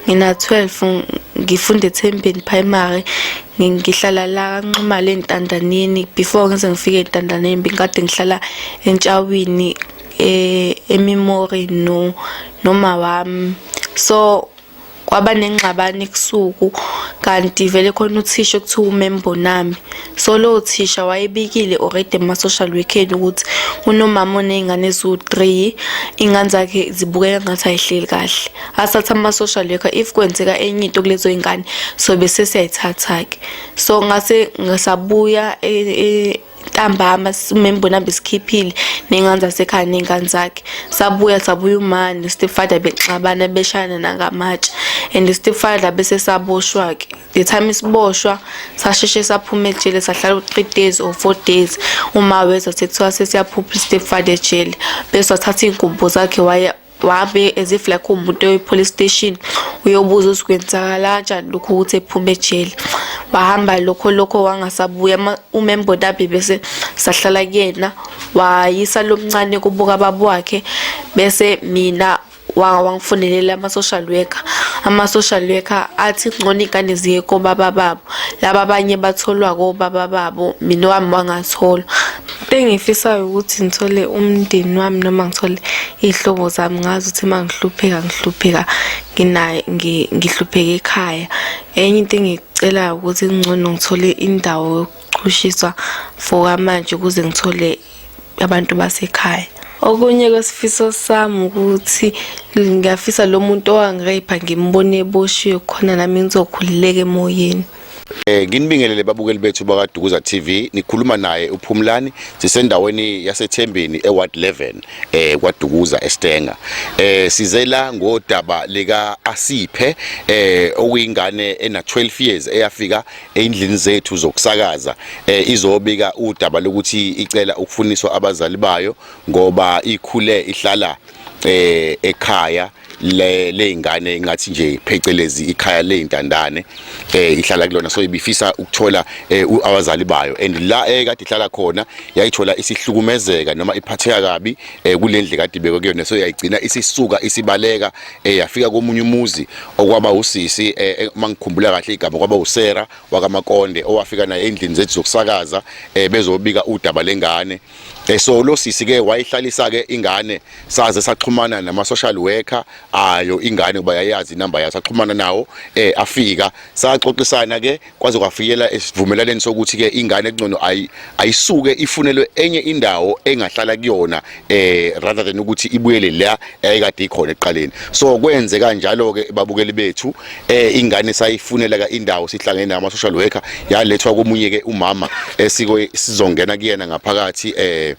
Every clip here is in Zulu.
ngina 12 ngifunda eThembeni Primary ngihlala la kanxumala entandaneni before ngize ngifike entandaneni bengikade ngihlala entshawini eh, ememory no noma wami so kwaba nengxabano ebusuku kanti vele khona uthisha okuthiwa umembo nami So lowo thisha wayebikile already kuma-social weekend ukuthi unomama oney'ngane eziwu-three iy'ngane zakhe zibukeka ngathi ayihleli kahle asathatha ama-social worker if kwenzeka enye into kulezo y'ngane so bese siyayithatha-ke so ngase ngasabuya e, e, ntambama simbona hambe sikhiphile nengane zasekhaya nengane zakhe sabuya sabuya umani stepfather bexabana beshayana nangamatshe and stepfather bese saboshwa-ke the time isiboshwa sasheshe saphuma ejele sahlala u-three days or four days uma weza sekuthiwa sesiyaphupha istepfather ejele bese wathatha iy'ngubo zakhe waya wabe as if like umuntu oyi-police station uyobuza ukuthi kwenzakala njani lokhu ukuthi ephume ejele wahamba lokho lokho wangasabuya umembodabi bese sahlala kuyena wayisa lomncane kubuka babo wakhe bese mina waka wangifonelela ama-social worker ama-social worker athi ngcono iy'ngane ziye kobaba babo laba abanye batholwa kobaba babo mina wami wangatholwa engifisayo ukuthi ngithole umndeni wami noma ngithole iy'hlobo zami ngazi ukuthi uma ngihlupheka ngihlupheka nginaye ngihlupheka ekhaya enye into engicelayo ukuthi kungcono ngithole indawo yokuchushiswa for kwamanje ukuze ngithole abantu basekhaya okunye kwesifiso sami ukuthi ngiyafisa lo muntu owangireyipha ngimbone eboshiwe khona nami ngizokhululeka emoyeni Eh nginibingelele babukeli bethu bakaDukuza TV nikhuluma naye uPhumlani sisendaweni yaseThembeni eWard 11 eh kwaDukuza eStenga eh sizela ngodaba lika Asiphe eh okuyingane ena 12 years eyafika eyindlini zethu zokusakaza eh, izobika udaba lokuthi icela ukufuniswa abazali bayo ngoba ikhule ihlala eh, ekhaya le lezingane ingathi nje phecelezi ikhaya lezintandane eh ihlala kulona so ibifisa ukuthola eh, abazali bayo and la ekade eh, ihlala khona yayithola isihlukumezeka noma iphatheka kabi eh, kulendle kade ibekwe kuyona so yayigcina isisuka isibaleka eh yafika komunye umuzi okwaba usisi eh, eh, uma ngikhumbula kahle igama kwaba usera wakamakonde owafika naye endlini zethu zokusakaza eh, bezobika udaba lengane eh, so lo sisi ke wayihlalisa ke ingane saze saxhumana nama social worker ayo ingane kuba yayazi inamba yayo saxhumana nawo eh afika saxoxisana ke kwaze kwafikela esivumelaneni sokuthi ke ingane engcono ayisuke ifunelwe enye indawo engahlala kuyona eh rather than ukuthi ibuyele la eyikade ikhona eqaleni so kwenze kanjalo ke babukeli bethu eh ingane sayifunela ka indawo sihlangene nama social worker yalethwa komunye ke umama esiko eh, sizongena kuyena ngaphakathi eh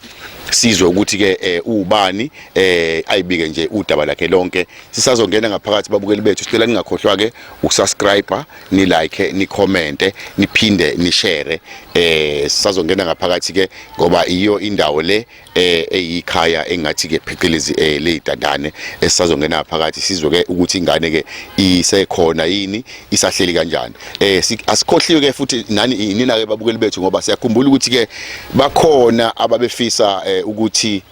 sizwe ukuthi ke eh, ubani eh ayibike nje udaba lakhe lonke sisazongena ngaphakathi babukeli bethu sicela ningakhohlwa ke ukusubscribe ni like ni comment niphinde ni share eh sazongena ngaphakathi ke ngoba iyo indawo le eh eyikhaya engathi ke phecelezi eh lezidandane esizazongena ngaphakathi sizwe ke ukuthi ingane ke isekhona yini isahleli kanjani eh asikhohliwe ke futhi nani nina ke babukeli bethu ngoba siyakhumbula ukuthi ke bakhona ababefisa eh, ukuthi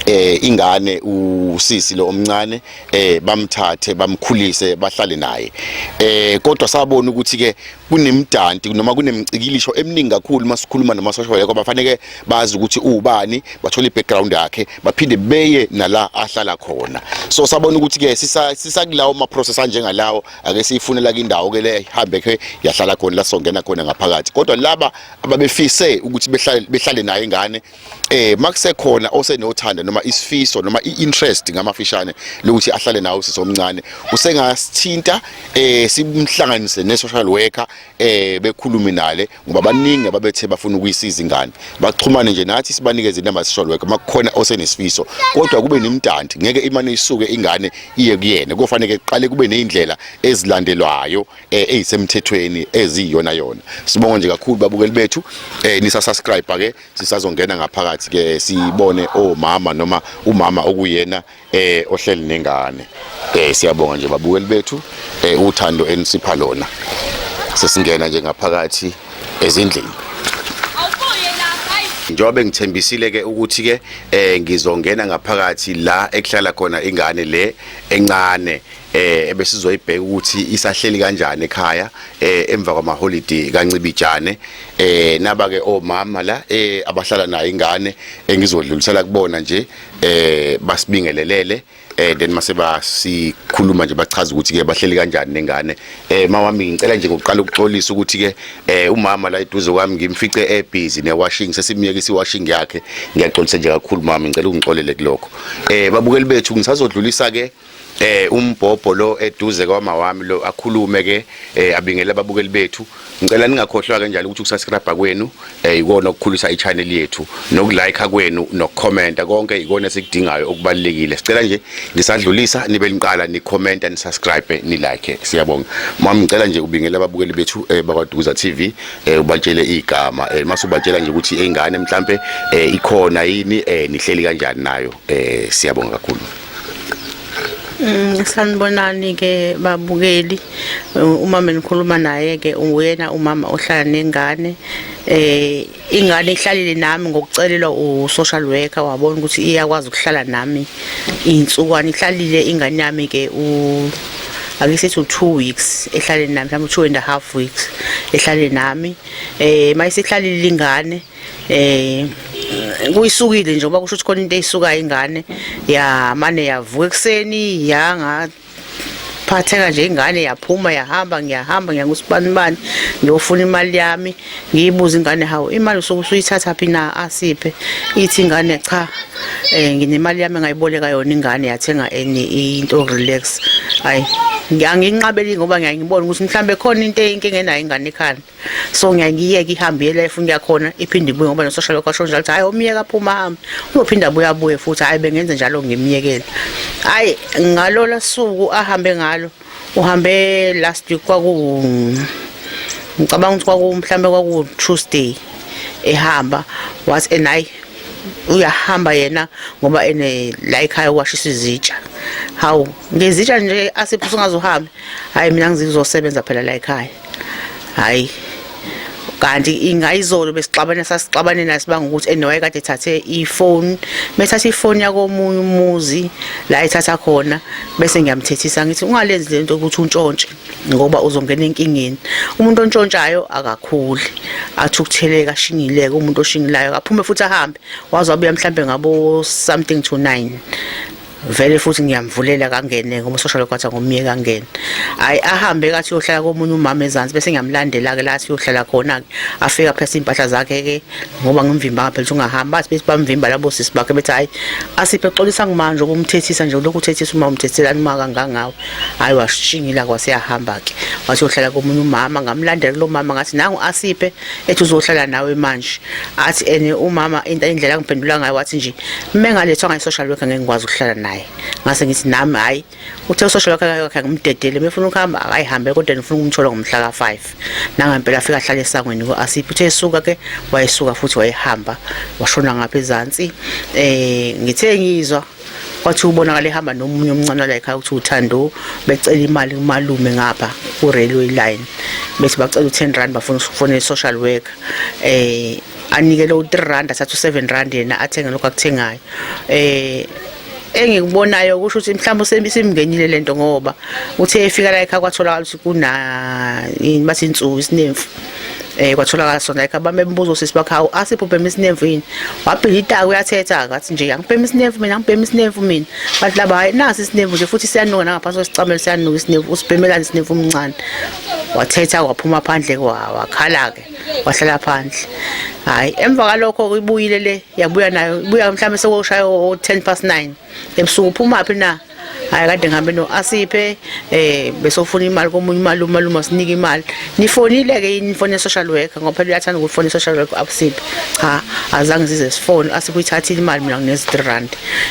eh ingane usisi lo omncane eh bamthathe bamkhulise bahlale naye eh kodwa sabona ukuthi ke kunemdanti noma kunemcikilisho eminingi kakhulu masikhuluma namasosha yekho bafanele bazi ukuthi ubani bathola ibackground yakhe baphinde beye nala ahlala khona so sabona ukuthi ke sisakulawo ama process anjengalawo ake siyifunela indawo ke le ihambe ke yahlala khona la songena khona ngaphakathi kodwa laba ababefise ukuthi behlale behlale naye ingane eh makusekhona osenothanda noma isifiso noma iinterest ngamafishane lokuthi ahlale nawo sisi omncane usengasithinta eh simhlanganise ne social worker eh bekhulume nale ngoba baningi ababethe bafuna ukuyisiza ingane baxhumane nje nathi sibanikeze inamba social worker makukhona osenesifiso kodwa kube nimdanti ngeke imane isuke ingane iye kuyena kufanele kuqale kube nezindlela ezilandelwayo eh, ezisemthethweni eziyona yona sibonga nje kakhulu babukeli bethu eh, nisa subscribe ke sisazongena ngaphakathi ke sibone omama oh, noma umama okuyena eh ohleli nengane eh siyabonga nje babukeli bethu eh uthando enisipha lona sesingena nje ngaphakathi ezindlini njengoba ngithembisile ke ukuthi ke eh ngizongena ngaphakathi la ekuhlala khona ingane le encane eh ebesizoyibheka ukuthi isahleli kanjani ekhaya eh emva kwamaholiday kancibijane eh naba ke omama la eh abahlala nayo ingane engizodlulisela kubona nje eh basibingelelele eh then mase basikhuluma nje bachaza ukuthi ke bahleli kanjani nengane eh mawami ngicela nje ngokuqala ukuxolisa ukuthi ke eh umama la eduze kwami ngimfice e busy ne washing sesimyeke si washing yakhe ngiyaxolisa nje kakhulu mama ngicela ungixolele kuloko eh babukeli bethu ngisazodlulisa ke eh umbhobho lo eduze kwama wami lo akhulume ke eh, abingele ababukeli bethu ngicela ningakhohlwa ke njalo ukuthi ukusubscribe kwenu eh ikona okukhulisa ichannel yethu nokulike kwenu nokucomment konke ikona esikudingayo okubalekile sicela nje ngisadlulisa nibe niqala ni comment and subscribe ni like siyabonga mama ngicela nje ubingele ababukeli bethu eh, bakwaduza TV eh, ubatshele igama eh, masubatshela nje ukuthi ingane mhlambe eh, ikhona yini eh, nihleli kanjani nayo eh, siyabonga kakhulu Mm, sanibonani-ke babukeli umama engikhuluma naye-ke uyena umama ohlala nengane eh ingane ihlalile nami ngokucelelwa u-social worker wabona ukuthi iyakwazi ukuhlala nami iy'nsukwana ihlalile ingane yami-ke akisithi u-two weeks ehlale nami mhlawumbe u-two and a half weeks ehlale nami um eh, uma isihlalile ingane eh kuyisukile nje ngoba kusho ukuthi khona into eyisukayo ingane ya mane yavuka ekuseni yanga phatheka nje ingane yaphuma yahamba ngiyahamba ngiya kusibani bani ngiyofuna imali yami ngiyibuza ingane hawu imali usuke usuyithatha phi na asiphe ithi ingane cha eh nginemali yami ngayiboleka yona ingane yathenga enye into relax hayi ngiyanginqabeli ngoba ngiyangibona ukuthi mhlambe khona into eyinkinga enayo ingane ekhanda so ngiyayiyeka ihambe iyela efuna yakhona iphinde ibuye ngoba nososha lokho asho njalo ukuthi hayi umyeka phuma hambe uzophinda abuye abuye futhi hayi bengenze njalo ngimyekele hayi ngalola suku ahambe ngalo uhambe last week kwaku ngicabanga ukuthi kwaku mhlambe kwaku Tuesday ehamba was and hayi uyahamba yena ngoba ene la ekhaya washisa izitsha hawu ngezitsha nje asiphusa ungazohambi hayi mina ngizizosebenza phela la ekhaya hayi kanti ingayizolo besixabana sasixabane nasibanga ukuthi enowaye kade ethathe ifoni bethatha ifoni yakomunye umuzi la ethatha khona bese ngiyamthethisa ngithi ungalenzi lento ukuthi untshontshe ngoba uzongena enkingeni umuntu ontshontshayo akakhuli athi ukutheleka ashingileke umuntu oshingilayo akaphume futhi ahambe waze wabuya mhlambe ngabo something to 9 vele futhi ngiyamvulela kangene ngoba usosha lokwathi angomyeka angene hayi ahambe kathi uyohlala komunye umama ezansi bese ngiyamlandela ke la siyohlala khona ke afika phesa impahla zakhe ke ngoba ngimvimba phela ukuthi ungahamba athi bese bamvimba labo sisi bakhe bethi hayi asiphe xolisa ngimanje ukumthethisa nje lokhu uthethisa uma umthethelani uma kangangawe hayi washingila kwaseyahamba ke wathi uyohlala komunye umama ngamlandela lo mama ngathi nangu asiphe ethi uzohlala nawe manje athi ene umama into indlela angiphendula ngayo wathi nje uma engalethwa ngayo social worker ngeke ngikwazi ukuhlala naye ngase ngithi nami hayi uthe usocial worker yakhe ngimdedele mefuna ukuhamba akayihambe kodwa ngifuna ukumthola ngomhla ka-5 nangempela afika ahlale esangweni ku-asiphi uthe esuka ke wayesuka futhi wayehamba washona ngapha ezansi um ngithe ngizwa wathi ubonakala ehamba nomunye omncane wala ekhaya ukuthi uthando becela imali kumalume ngapha ku-railway line bethi bacela u-ten rand bafuna ukufonela i-social worker um eh, anikele u-three rand athathe u-seven rand yena athenge lokhu akuthengayo um engikubonayo kusho ukuthi mhlawumbe usembisimngenile lento ngoba uthe efika la ekhaya kwatholakala ukuthi kuna yini bathi insuku isinemfu eh kwatholakala sona like abame embuzo sisi bakhe hawu asipho bhema isinemvu yini wabhila itaka uyathetha ngathi nje angibhema isinemvu mina angibhema isinemvu mina bathi laba hayi nasi isinemvu nje futhi siyanuka nangaphansi kwesicamelo siyanuka isinemvu usibhemelani isinemvu umncane wathetha waphuma phandle wakhala ke wahlala phandle hayi emva kalokho uyibuyile le yabuya nayo ibuya mhlawumbe sekoshaya o-10 past 9 ebusuku uphumaphi na hayi kade ngihambe no asiphe eh besofuna imali komunye imali umalume sinika imali nifonile ke yini fone social worker ngoba phela uyathanda ukufona social worker abusiphe cha azange size sifone asiphe imali mina nginezi 3 rand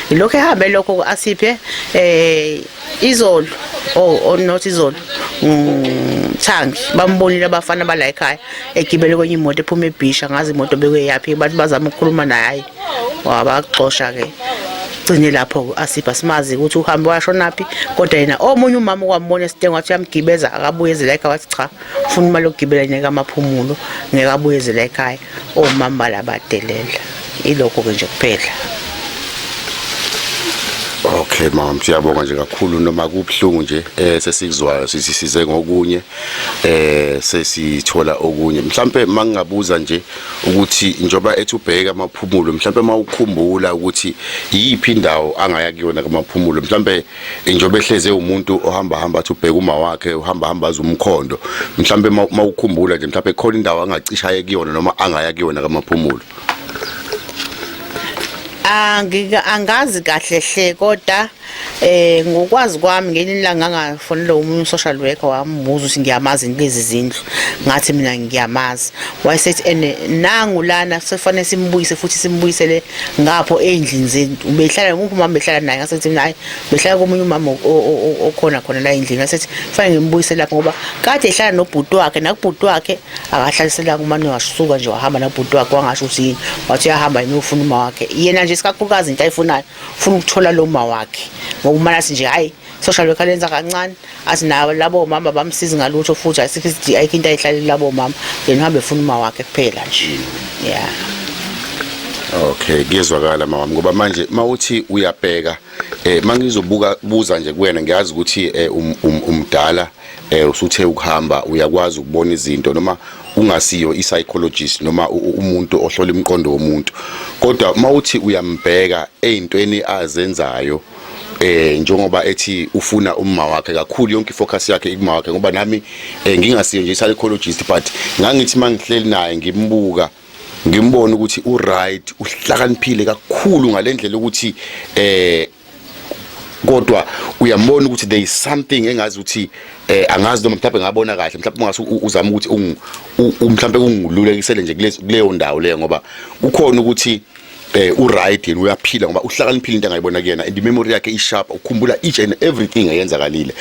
ilokho ehambe lokho asiphe eh izolo oh, oh not izolo mm, thangi bambonile abafana bala ekhaya egibele kwenye imoto ephuma ebhisha ngazi imoto bekweyaphi abantu bazama ukukhuluma naye wabaxosha ke gcine lapho asipha simazi ukuthi uhambe washonaphi kodwa yena omunye umama okwambona esitengo wathi uyamgibeza akabuye ezela ekhaya wathi cha ufuna imali yokugibela ngeke amaphumulo ngeke abuye ezela ekhaya omama balabadelela ilokho ke nje kuphela Okay mama siyabonga nje kakhulu noma kubhlungu nje eh sesikuzwayo sisisize ngokunye eh sesithola okunye mhlambe mangingabuza nje ukuthi njengoba ethi ubheke amaphumulo mhlawumbe uma ukhumbula ukuthi iyiphi indawo angaya kuyona kamaphumulo mhlawumbe njengoba ehleze umuntu ohamba hamba athi ubheke uma wakhe uhamba hamba aze umkhondo mhlawumbe uma ukhumbula nje mhlawumbe khona indawo angacishaye kuyona noma angaya kuyona kamaphumulo angika angazi kahle hle kodwa Eh ngokwazi kwami ngenye ilanga ngafonela umunye social worker wambuza ukuthi ngiyamazi lezi zindlu ngathi mina ngiyamazi wayesethi ene nangu lana sefane simbuyise futhi simbuyisele ngapho endlini zenu ubehlala nguphi mama behlala naye ngasethi mina hayi behlala komunye umama okhona khona la endlini ngasethi fanele ngimbuyise lapho ngoba kade ehlala nobhuti wakhe nakubhuti wakhe akahlalisela kumane wasuka nje wahamba nabhuti wakhe wangasho ukuthi yini wathi uyahamba yini ufuna uma wakhe yena nje sikakhulukazi into ayifunayo ufuna ukuthola lo ma wakhe ngokumana athi nje hhayi social worker lenza kancane athi nawo labo mama bamsizi ngalutho futhi asikho isidingo ayikho into ayihlaleli labo mama yena uhambe efuna uma wakhe kuphela nje yeah Okay kuyezwakala mama ngoba manje mawuthi uyabheka eh mangizobuka buza nje kuwena ngiyazi ukuthi eh, um, um, umdala eh usuthe ukuhamba uyakwazi ukubona izinto noma ungasiyo i-psychologist noma umuntu ohlola imiqondo womuntu kodwa uma uthi uyambheka eyintweni azenzayo eh njengoba ethi ufuna umma wakhe kakhulu yonke ifocus yakhe ikuma wakhe ngoba nami eh, ngingasiyo nje i-psychologist but ngangithi mangihleli naye ngimbuka ngimbona ukuthi uright uhlakaniphile kakhulu ngalendlela ukuthi eh kodwa uyambona ukuthi there is something engazi ukuthi eh angazi noma mhlawumbe ngabona kahle mhlawumbe ungase uzama ukuthi mhlawumbe kungilulekisele nje kuleyo ndawo leyo ngoba kukhona ukuthi eh u right yena uyaphila ngoba uhlakaniphile into engayibona kuyena and memory yakhe isharp ukhumbula each and everything eyenzakalile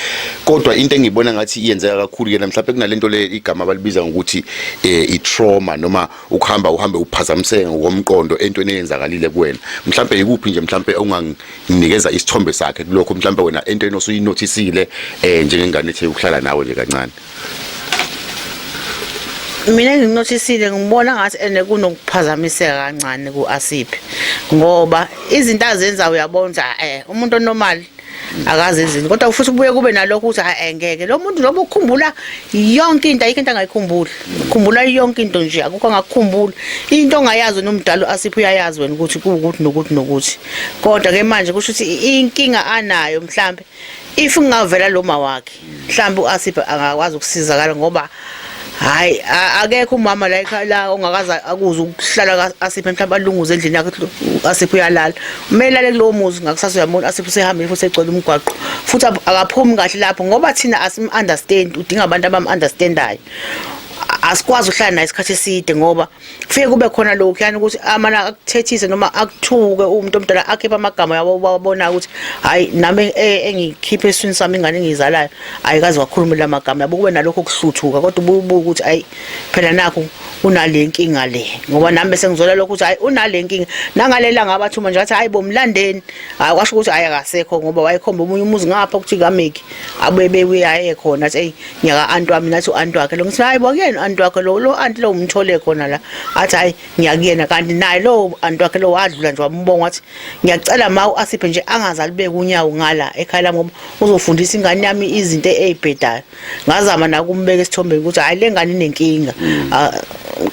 kodwa into engiyibona ngathi iyenzeka kakhulu yena mhlawumbe kunalento le igama abalibiza ngokuthi eh i trauma noma ukuhamba uhambe uphazamiseke ngokomqondo entweni eyenzakalile kuwena mhlambe ikuphi nje mhlambe unganginikeza isithombe sakhe kulokho mhlambe wena entweni osuyinothisile eh njengengane ethe ukuhlala nawe nje kancane mina nginothisile ngibona ngathi ene kunokuphazamiseka kancane kuAsiphi ngoba izinto azenza uyabona eh umuntu onormal akazi izini kodwa ufisa ubuye kube nalokho ukuthi hayi eh, ngeke lo muntu noma ukhumbula yonke into ayikho into angayikhumbuli ukhumbula yonke into nje akukho angakukhumbula into ongayazi nomdalo asipho uyayazi wena ukuthi kuwukuthi nokuthi nokuthi kodwa ke manje kusho ukuthi inkinga anayo mhlambe if ngingavela lo ma wakhe mhlawumbe u-asip angakwazi ukusizakala ngoba hayi akekho umama la ekhaya la ongakaze akuze ukuhlala ka-asip mhlawumbe alunguze endlini yakhe u-asip uyalala kumele lale kulowo muzi ngakusasa uyambona u-asip usehambile futhi egcwele umgwaqo futhi akaphumi kahle lapho ngoba thina asim-understand udinga abantu abam-understandayo asikwazi ukuhlala naye isikhathi eside ngoba kufike kube khona lokhu yani ukuthi amana akuthethise noma akuthuke umuntu omdala akhiphe amagama yabo babona ukuthi hayi nami e- engikhiphe eswini sami ingane engizalayo ayikazi wakhuluma la magama yabo kube nalokho kuhluthuka kodwa ububuka ukuthi ayi phela nakho unale nkinga le ngoba nami bese ngizola lokho ukuthi hayi unale nkinga nangalela ngabathuma nje athi hayi bomlandeni hayi kwasho ukuthi ayakasekho ngoba wayekhomba omunye umuzi ngapha ukuthi kameki abuye bebuye aye khona athi hey ngiyaka anti wami nathi u-anti wakhe lo ngithi hayi bokuyena u-anti wakhe lo lo anti lo umthole khona la athi hayi ngiyakuyena kanti naye lo anti wakhe lo wadlula nje wambonga wathi ngiyacela ma u-asiphe nje angaze alibeke unyawo ngala ekhaya lami ngoba uzofundisa ingane yami izinto ey'bhedayo ngazama nakumbeka esithombeni ukuthi hhayi le ngane inenkinga mm. ah,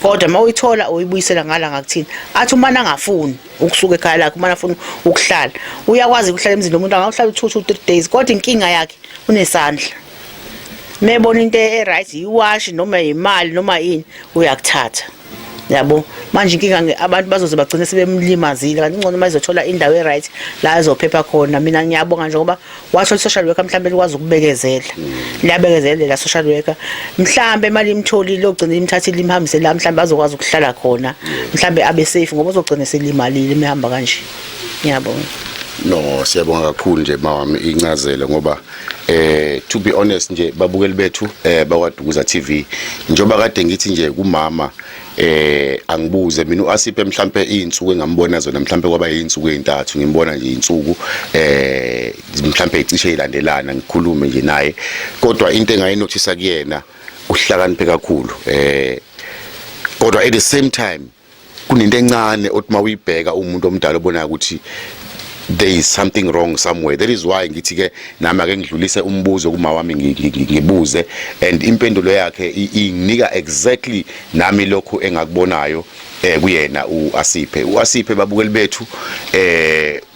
kodwa uma uyithola uyibuyisela ngala ngakuthini athi umane angafuni ukusuka ekhaya lakhe umane afuna ukuhlala uyakwazi ukuhlala emzini womuntu angawuhlala u-two two three days kodwa inkinga yakhe unesandla mebona into e-right yiwashi noma yimali noma yini uyakuthatha yabo manje inkinga abantu bazoze bagcine sebemlimazile kanti ingcono uma izothola indawo e-right la ezophepha khona mina ngiyabonga nje ngoba washo social worker mhlawumbe likwazi ukubekezela liyabekezelela social worker mhlawumbe imali imtholile ogcina imthathile imhambise la mhlawumbe azokwazi ukuhlala khona mhlawumbe abe safe ngoba uzogcina selimalile imihamba kanje ngiyabonga no siyabonga kakhulu nje mawami incazelo ngoba eh to be honest nje babukeli bethu eh bakwadukuza TV njoba kade ngithi nje kumama eh angibuze mina uAsipe mhlambe izinsuku engambona zona mhlambe kwaba izinsuku ezintathu ngimbona nje izinsuku eh mhlambe icishe ilandelana ngikhulume nje naye kodwa into engayinothisa kuyena uhlakaniphe kakhulu eh kodwa at the same time kunento encane othi uma uyibheka umuntu omdala obonayo ukuthi there is something wrong somewhere that is why ngithi ke nami ake ngidlulise umbuzo kuma wami ngibuze and impendulo yakhe inginika exactly nami lokho engakubonayo eh kuyena uAsiphe uAsiphe babukeli bethu eh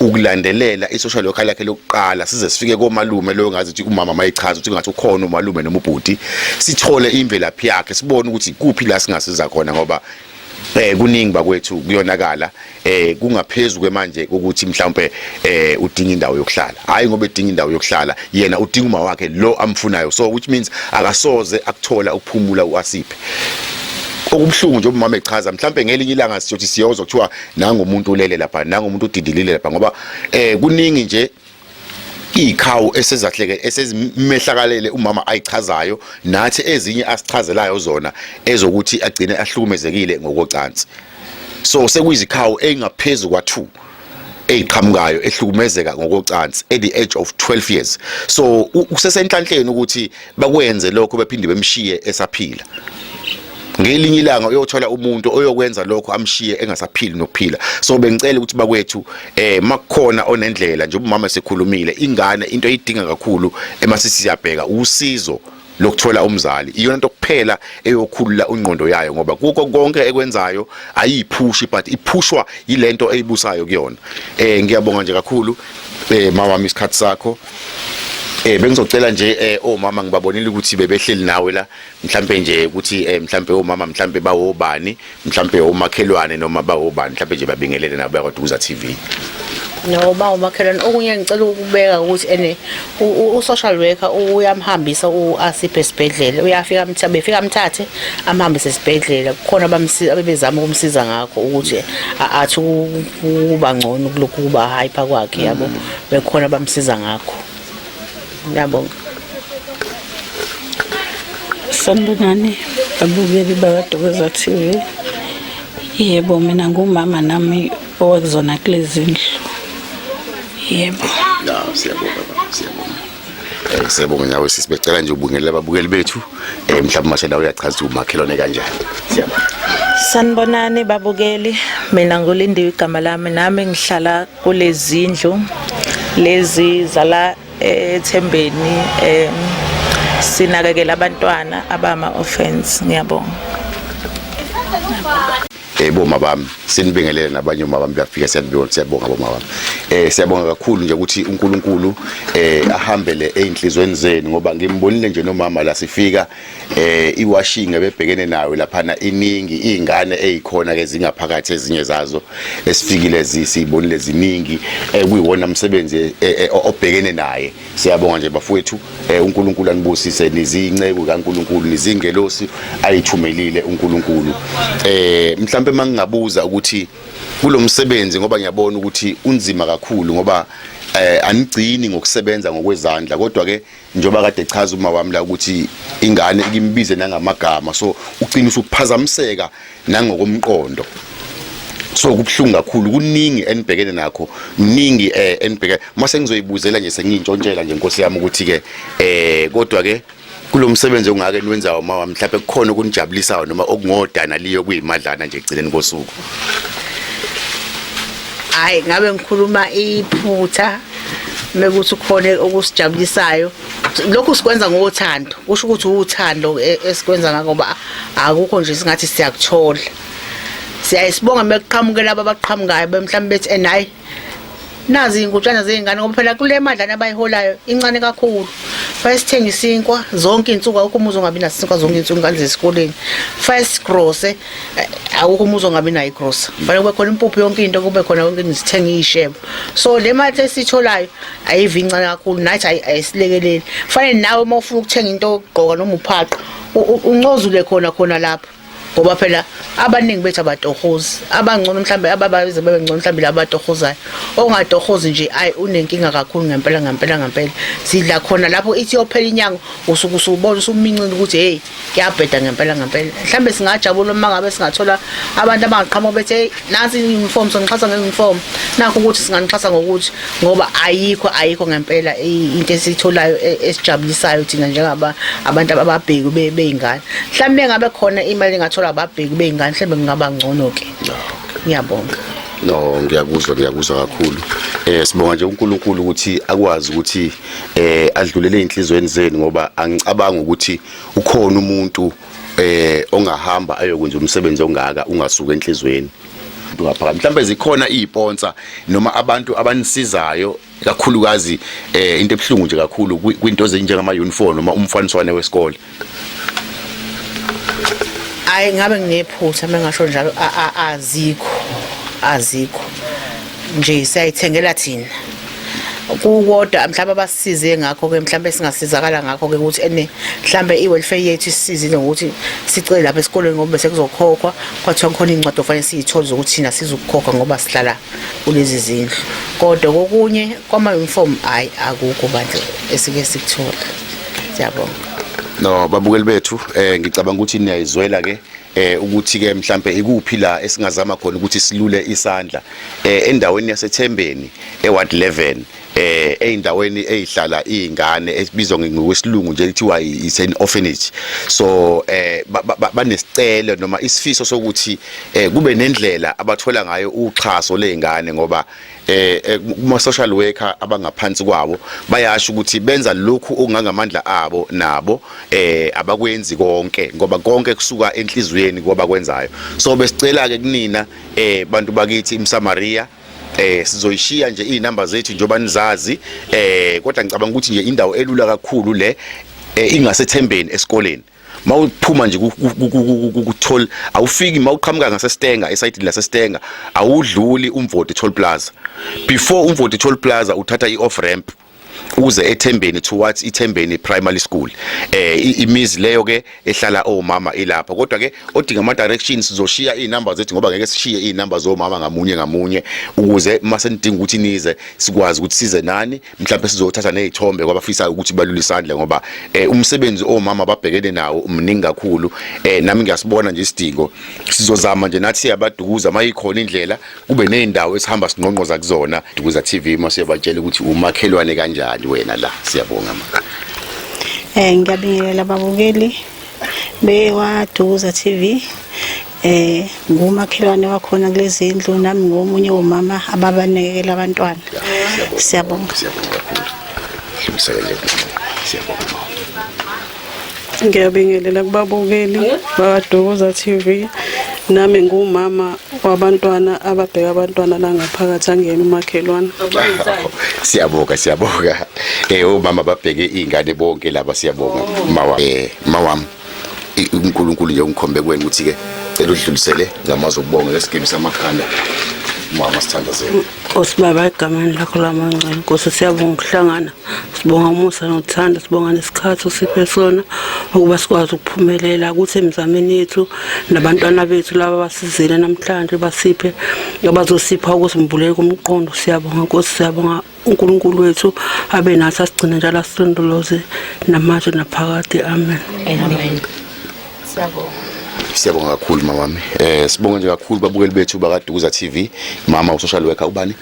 ukulandelela i-social worker lakhe lokuqala size sifike komalume loyo ngazi ukuthi umama mayichaza ukuthi ngathi ukhona umalume noma ubhuti sithole imvelaphi yakhe sibone ukuthi kuphi la singasiza khona ngoba eh kuningi bakwethu kuyonakala eh kungaphezulu kwemanje ukuthi mhlawumbe eh udinga indawo yokuhlala hayi ngoba edinga indawo yokuhlala yena udinga uma wakhe lo amfunayo so which means akasoze akuthola ukuphumula uasiphe okubuhlungu nje umama echaza mhlawumbe ngelinye ilanga siyothi siyozo kuthiwa nangu umuntu ulele lapha nangu umuntu udidilile lapha ngoba eh kuningi nje ikhawu esezahleke esezimehlakalele umama ayichazayo nathi ezinye asichazelayo zona ezokuthi agcine ahlukumezekile ngokocansi so sekuyizikhawu engaphezulu kwa2 eyiqhamukayo ehlukumezeka ngokocansi at the age of 12 years so usesenhlanhleni ukuthi bakwenze lokho bephinde bemshiye esaphila ngelinye ilanga uyothola umuntu oyokwenza lokho amshiye engasaphili nokuphila so bengicela ukuthi bakwethu eh makukhona onendlela nje umama esekhulumile ingane into eyidinga kakhulu emasisi siyabheka usizo lokuthola umzali iyona into kuphela eyokhulula ungqondo yayo ngoba kuko konke ekwenzayo ayiphushi but iphushwa yilento eyibusayo kuyona eh ngiyabonga nje kakhulu eh mama isikhathi sakho Eh bengizocela nje eh omama ngibabonile ukuthi bebehleli nawe la mhlambe nje ukuthi eh mhlambe omama mhlambe bawobani mhlambe omakhelwane noma bawobani mhlambe nje babingelele nabo yakwaDukuza TV No ba umakhelwane okunye ngicela ukubeka ukuthi ene u-social worker uyamhambisa uAsiphe esibhedlela uyafika amthathe befika amthathe amhambise esibhedlela kukhona abamsiza abebezama ukumsiza ngakho ukuthi athi kuba ngcono kulokhu kuba hype kwakhe yabo bekhona bamsiza ngakho ngiyabonga sanibonani abukeli bakadokeza t v yebo mina ngumama nami owakuzona kulezi ndlu yebo siyabonga siyabonga Eh, siyabonga nawe sisi becela nje ubungelela ababukeli bethu eh mhlawumbe mashela uyachaza ukuthi umakhelwane kanjani siyabonga sanibonani babukeli mina ngulinde igama lami nami ngihlala kulezindlu lezi zala ethembeni eh sinakekela abantwana abama offense ngiyabonga Eh boma bami sinibingelele nabanye uma bami bafika siyabonga siyabonga boma bami. Eh siyabonga kakhulu nje ukuthi uNkulunkulu eh ahambele einhlizweni zenu ngoba ngimbonile nje nomama la sifika eh iwashing ebebhekene nayo lapha na iningi izingane ezikhona ke zingaphakathi ezinye zazo esifikile zisibonile ziningi eh kuyiwona umsebenzi eh, eh, obhekene naye Siyabonga nje bafowethu eh, uNkulunkulu anibusise niziyinceku kaNkulunkulu nizingelosi ayithumelile uNkulunkulu eh mhlambe mangingabuza ukuthi kulomsebenzi ngoba ngiyabona ukuthi unzima kakhulu ngoba eh anigcini ngokusebenza ngokwezandla kodwa ke njoba kade chaza uma wami la ukuthi ingane ikimbize nangamagama so ucina usuphazamiseka nangokomqondo so kubuhlungu kakhulu kuningi enibhekene nakho kuningi eh enibhekene mase ngizoyibuzela nje sengintshontshela nje inkosi yami ukuthi ke eh kodwa ke kulomsebenzi ongake niwenzayo mawa mhlawumbe kukhona okunijabulisayo noma okungodana liyo kuyimadlana nje egcineni kosuku hayi ngabe ngikhuluma iphutha mekuthi khona okusijabulisayo lokhu sikwenza ngothando kusho ukuthi uthando e, esikwenza ngako ba akukho nje singathi siyakuthola siyayisibonga mekuqhamuke laba abaqhamukayo bemhlawumbe bethi and hayi nazi inkutshana zey'ngane ngoba phela kule madlana abayiholayo incane kakhulu fire sithenge isinkwa zonke iy'nsuku awukho umuzi ongabi naso isinkwa zonke iy'nsuku ingane zesikoleni fire sigrose eh, awukho umuzi ongabi nayo igrosa fanele kube khona impuphu yonke into kube khona yonke into sithenge iy'shebo so le mali esiyitholayo ayivi incane kakhulu nathi ayisilekeleli fanele nawe uma ufuna ukuthenga into yokugqoka noma uphaqa uncozule khona khona lapho ngoba phela abaningi bethu abatohozi abangcono mhlambe ababaze bebe ngcono mhlambe laba abatohozayo ongatohozi nje ayi unenkinga kakhulu ngempela ngempela ngempela sidla khona lapho ithi yophela inyanga usuke usubona usumincile ukuthi hey kuyabheda ngempela ngempela mhlawumbe singajabula uma ngabe singathola abantu abangaqhamuka bethi hey nansi uniform sonixhasa ngeuniform nakho ukuthi singanixhasa ngokuthi ngoba ayikho ayikho ngempela into esitholayo e, esijabulisayo thina njengaba abantu ababheku beyingane mhlawumbe ngabe khona imali engathola ababheku beyingane mhlawumbe kungaba ngcono ke ngiyabonga no ngiyakuzwa ngiyakuzwa kakhulu eh sibonga nje uNkulunkulu ukuthi akwazi ukuthi eh adlulele ezinhlizweni zenu ngoba angicabanga ukuthi ukhona umuntu eh ongahamba ayokwenza umsebenzi ongaka ungasuka enhlizweni umuntu ngaphakathi mhlawumbe zikhona iziponsa noma abantu abanisizayo kakhulukazi eh into ebuhlungu nje kakhulu kwinto ezinjengama uniform noma umfaniswane wesikole hayi ngabe nginephutha mengasho njalo azikho azikho nje siyayithengela thina kukodwa mhlawumbe abasize ngakho ke mhlawumbe singasizakala ngakho ke ukuthi ene mhlawumbe i-welfare yethu isizile ngokuthi sicele lapha esikoleni ngoba besekuzokhokhwa kwathiwa kukhona iy'ncwadi ofanele siyithole zokuthi thina sizukukhokha ngoba sihlala kulezi zindlu kodwa kokunye kwama-uniform hhayi akukho bandla esike sikuthola siyabonga no babukeli bethu eh ngicabanga ukuthi niyayizwela ke eh ukuthi ke mhlambe ikuphi la esingazama khona ukuthi silule isandla eh endaweni yasethembeni eward 11 eh eindaweni ezihlala izingane esibizwa ngokwesilungu nje kuthiwa is an orphanage so eh banesicelo noma isifiso sokuthi eh, kube nendlela abathola ngayo uxhaso lezingane ngoba eh, eh kuma social worker abangaphansi kwabo bayasho ukuthi benza lokhu okungangamandla abo nabo eh abakwenzi konke ngoba konke kusuka enhlizweni ngoba kwenzayo so besicela ke kunina eh bantu bakithi imsamaria eh sizoyishiya nje izinamba zethu njoba nizazi eh kodwa ngicabanga ukuthi nje indawo elula kakhulu le eh, ingasethembeni esikoleni mawuphuma nje kuthol awufiki mawuqhamuka ngaseStenga esayidini laseStenga awudluli umvoti toll plaza before umvoti toll plaza uthatha ioff ramp uze ethembeni towards ithembeni primary school eh imizi leyo ke ehlala omama oh, ilapho kodwa ke odinga ama directions sizoshiya izinamba zethu ngoba ngeke sishiye izinamba zomama ngamunye ngamunye ukuze mase nidinga ukuthi nize sikwazi ukuthi size nani mhlawumbe sizothatha nezithombe kwabafisa ukuthi balule isandla ngoba eh, umsebenzi omama oh, babhekene nawo mningi kakhulu eh nami ngiyasibona nje isidingo sizozama nje nathi siyabadukuza mayikhona indlela kube nezindawo esihamba sinqonqoza kuzona Dukuza TV uma siyabatshela ukuthi umakhelwane kanjani wena la siyabonga ma Eh ngiyabingelela babukeli bewa Dukuza TV eh ngumakhelwane wakhona kulezi ndlu nami ngomunye womama ababanekela abantwana siyabonga siyabonga kakhulu siyabonga siyabonga Ngiyabingelela kubabukeli bakaDukuza TV. Nami ngumama wabantwana ababheka abantwana la ngaphakathi angiyena umakhelwane. Siyabonga siyabonga. Eh umama babheke izingane bonke laba siyabonga. Mawa eh mawami uNkulunkulu nje ungikhombe kuwena ukuthi ke cela udlulisele ngamazwi okubonga lesigebe samakhanda mama sithandazela. Nkosi Baba egameni lakho lamangcwele Nkosi siyabonga ukuhlangana sibonga umusa nothando sibonga nesikhathi osiphe sona ukuba sikwazi ukuphumelela ukuthi emizameni yethu nabantwana bethu laba basizele namhlanje basiphe abazosipha ukusimbulela komqondo siyabonga Nkosi siyabonga uNkulunkulu wethu abe nathi asigcine njalo asilondoloze namanje naphakade amen amen Siyabonga. Siyabonga kakhulu mama wami. Eh sibonga nje kakhulu babukeli bethu bakaDukuza TV. Mama usocial worker ubani?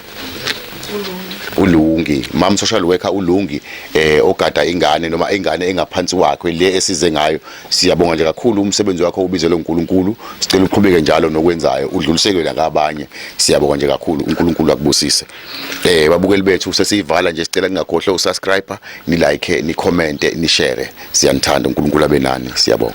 ulungi mam social worker ulungi eh ogada ingane noma ingane engaphansi wakhe le esize ngayo siyabonga nje kakhulu umsebenzi wakho ubizelwe uNkulunkulu sicela uqhubeke njalo nokwenzayo udluliselwe nakabanye siyabonga nje kakhulu uNkulunkulu akubusise Eh babukeli bethu sesiyivala nje sicela ningakhohlwa usubscribe, ni like, ni comment, ni share. Siyanithanda uNkulunkulu abe nani. Siyabonga.